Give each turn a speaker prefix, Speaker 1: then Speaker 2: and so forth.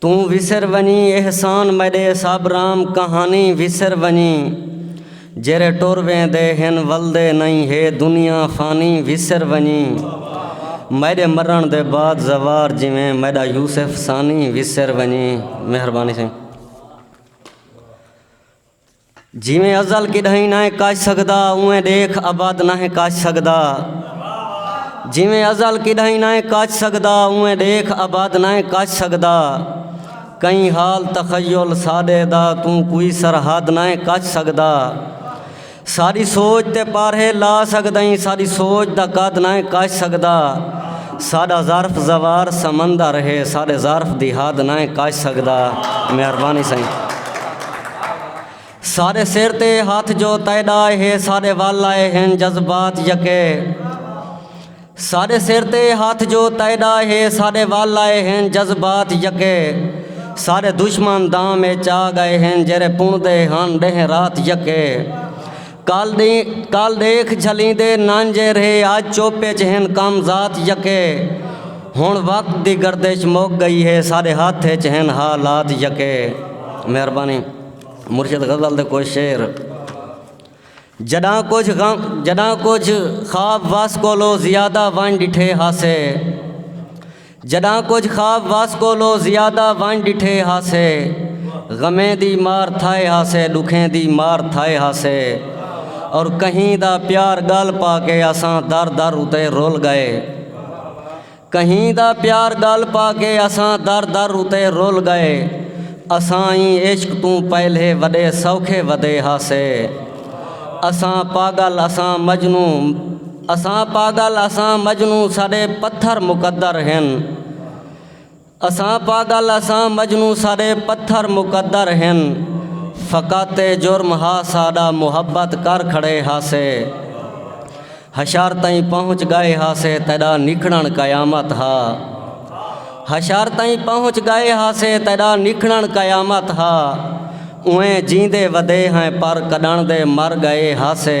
Speaker 1: توں وسر ونجیں احسان میݙے سب رام کہانی وسر ونجیں جیرھے ٹر ویندے ہن ولدے نئیں ہے دنیا فانی وسر ونجیں میݙے مرݨ دے بعد زوار جیویں میݙا یوسف ثانی وسر ونجیں مہربانی سئیں۔ جیویں ازل کݙاہیں ناہیں کچ سڳدا اونویں ݙیکھ ابد ناہیں کچ سڳدا جیویں ازل کݙاہیں ناہیں کچ سڳدا اونویں ݙیکھ ابد ناہیں کچ سڳدا کئیں حال تخیل ساݙے دا توں کوئی سرحد ناہیں کچ سڳدا ساݙی سوچ تے پارھے لا سڳدئیں ساݙی سوچ دا قد ناہیں کچ سڳدا ساڈا ظرف زوار سمندر ہے ساڈے ظرف دی حد نہ کچ سکدا مہربانی سائیں سارے سر تے ہاتھ جو تیڈا ہے سارے ول آئے ہیں جذبات یکے سارے سر تے ہاتھ جو تیڈا ہے سارے ول آئے ہیں جذبات یکے سارے دشمن دام چا گئے ہیں جرے پوندے ہن ڈہ رات یکے کل ݙیکھ جھلیندے نانجھے رھے اڄ چپ اچ ہن کم ذات یکے ہݨ وقت دی گردش مک ڳئی ہے ساݙے ہتھ اچ ہن حالات یکے مہربانی مرشد غزل دے کجھ شعر جݙاں کجھ غم جݙاں کجھ خواب وس کولو زیادہ ونڄ ݙٹھے ہاسے جݙاں کجھ خواب وس کولو زیادہ ونڄ ݙٹھے ہاسے غمیں دی مار تھائے ہاسے ݙکھیں دی مار تھائے ہاسے اور کہیں دا پیار ڳل پا کے اساں در در اتے رل ڳئے کہیں دا پیار ڳل پا کے اساں در در اتے رل ڳئے اساں ایں عشق توں پہلے وݙے سوکھے ودے ہاسے اساں پاڳل اساں مجنوں اساں پاگل اساں مجنوں ساݙے پتھر مقدر ہن اساں پاگل اساں مجنوں ساݙے پتھر مقدر ہن فقط اے جرم ہا ساݙا محبت کر کھڑے ہاسے حشر تئیں پہنچ ڳئے ہاسے تیݙا نکھڑݨ قیامت ہا حشر تئیں پہنچ ڳئے ہاسے تیݙا نکھڑݨ قیامت ہا اوں جیندے ودے ہیں پر کݙݨ دے مر ڳئے ہاسے۔